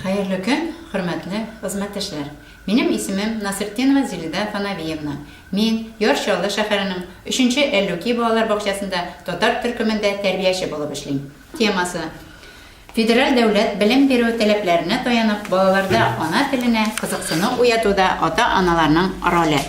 Хәерле көн, хөрмәтле хезмәттәшләр! Минем исемем Насретдинова Зилидә Фанавиевна. Мин Яр Чаллы шәһәренең өченче Әллүки балалар бакчасында татар төркемендә тәрбияче булып эшлим. Темасы, Федераль дәүләт белем бирү таләпләренә таянып, балаларда ана теленә кызыксыну уятуда ата-аналарның роле.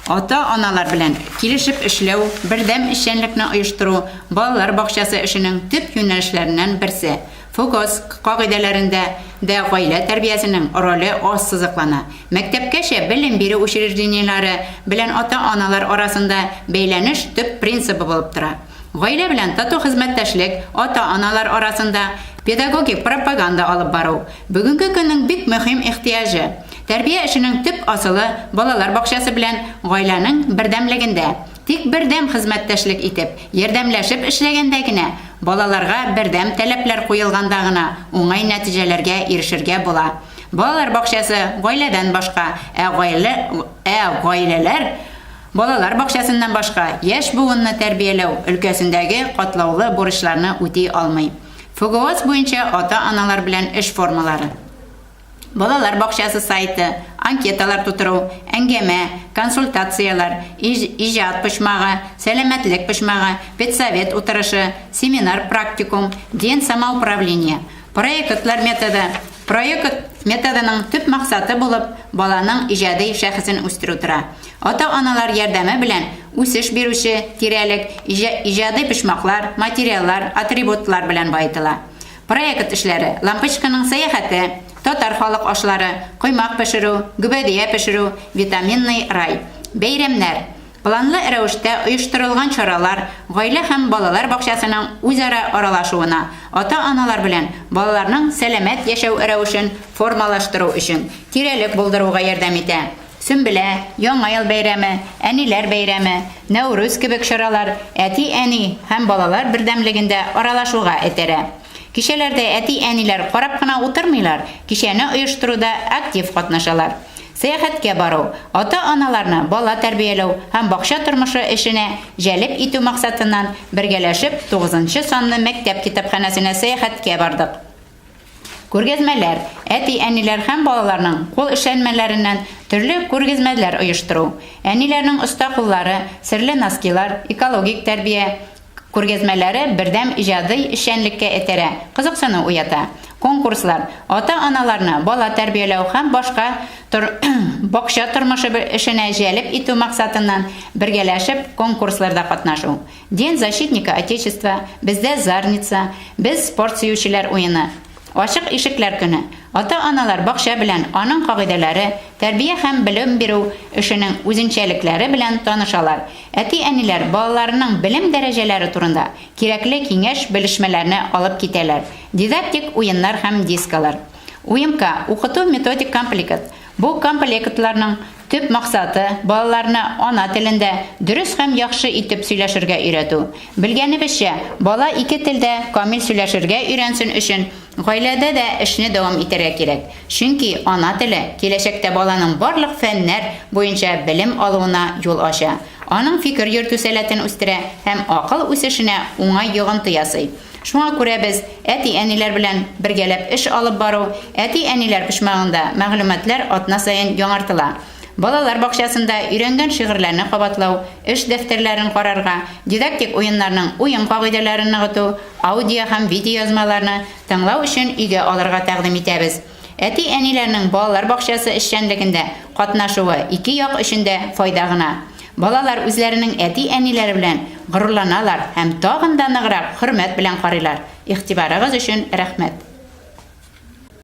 Ата-аналар белән килешеп эшләү, бердәм эшчәнлекне оештыру балалар бакчасы эшенең төп юнәлешләреннән берсе. ФОКОСК кагыйдәләрендә дә гаилә тәрбиясенең роле ассызыклана. Мәктәпкәчә белем бирү учреждениеләре белән ата-аналар арасында бәйләнеш төп принцибы булып тора. Гаилә белән тату хезмәттәшлек, ата-аналар арасында педагогик пропаганда алып бару, бүгенге көннең бик мөһим ихтыяҗы. Тәрбия эшенең төп асылы балалар бакчасы белән гаиләнең бердәмлегендә. Тик бердәм хезмәттәшлек итеп, ярдәмләшеп эшләгәндә генә, балаларга бердәм таләпләр куелганда гына уңай нәтиҗәләргә ирешергә була. Балалар бакчасы, гаиләдән башка, ә гаилә, ә гаиләләр, балалар бакчасыннан башка, яшь буынны тәрбияләү өлкәсендәге катлаулы бурычларны үти алмый. ФГОС буенча ата-аналар белән эш формалары. Балалар бакчасы сайты, анкеталар тутыру, әңгәмә, консультацияләр, иҗат почмагы, сәламәтлек почмагы, педсовет утырышы, семинар-практикум, ден самоуправление. Проектлар методы Проект методының төп максаты булып баланың иҗади шәхесен үстерү тора. Ата-аналар ярдәме белән үсеш бирүче тирәлек иҗади почмаклар, материаллар, атрибутлар белән баетыла. Проект эшләре, Лампочканың сәяхәте, Татар халык ашлары, Коймак пешерү, Гөбәдия пешерү, Витаминный рай. Бәйрәмнәр, Планлы рәвештә оештырылган чаралар гаилә һәм балалар бакчасының үзара аралашуына, ата-аналар белән балаларның сәламәт яшәү рәвешен формалаштыру өчен тирәлек булдыруга ярдәм итә. Сөмбелә, Яңа ел бәйрәме, Әниләр бәйрәме, Нәүрүз кебек чаралар әти-әни һәм балалар бердәмлеген дә аралашуга этәрә. Кичәләрдә әти-әниләр карап кына утырмыйлар, кичәне оештыруда актив катнашалар. Сәяхәткә бару, ата-аналарны бала тәрбияләү һәм бакча тормышы эшенә җәлеп итү максатыннан, бергәләшеп тугызынчы санлы мәктәп китапханәсенә сәяхәткә бардык. Күргәзмәләр, әти-әниләр һәм балаларның кул эшләнмәләреннән төрле күргезмәләр оештыру, әниләрнең оста куллары, серле носкилар, экологик тәрбия күргәзмәләре бердәм иҗади эшчәнлеккә этәрә, кызыксыну уята. Конкурслар, ата-аналарны бала тәрбияләү һәм башка тор бакча тормышы эшенә җәлеп итү максатыннан бергәләшеп конкурсларда катнашу, День защитника Отечества, Бездә Зарница, Без, спорт сөючеләр уены. Ачык ишекләр көне. Ата-аналар бакча белән, аның кагыйдәләре, тәрбия һәм белем бирү эшенең үзенчәлекләре белән танышалар. Әти-әниләр балаларының белем дәрәҗәләре турында кирәкле киңәш-белешмәләрне алып китәләр, дидактик уеннар һәм дискалар. Уемка, укыту-методик комплекыт, бу комплектларның, Төп максаты, балаларны ана телендә дөрес һәм яхшы итеп сөйләшергә өйрәтү. Белгәнебезчә, бала ике телдә камил сөйләшергә өйрәнсен өчен, гаиләдә дә эшне дәвам итәргә кирәк, чөнки ана теле киләчәктә баланың барлык фәннәр буенча белем алуына юл ача, аның фикер йөртү сәләтен үстерә һәм акыл үсешенә уңай йогынты ясый. Шуңа күрә без әти-әниләр белән бергәләп эш алып бару, әти-әниләр почмагында мәгълүматлар атна саен яңартыла. Балалар бакчасында өйрәнгән шигырьләрне кабатлау, эш дәфтәрләрен карарга, дидактик уеннарның уен кагыйдәләрен ныгыту, аудио һәм видеоязмаларны тыңлау өчен өйгә алырга тәкъдим итәбез. Әти-әниләрнең балалар бакчасы эшчәнлегендә катнашуы ике як өчен дә файда гына. Балалар үзләренең әти-әниләре белән горурланалар һәм тагын да ныграк хөрмәт белән карыйлар. Игътибарыгыз өчен рәхмәт!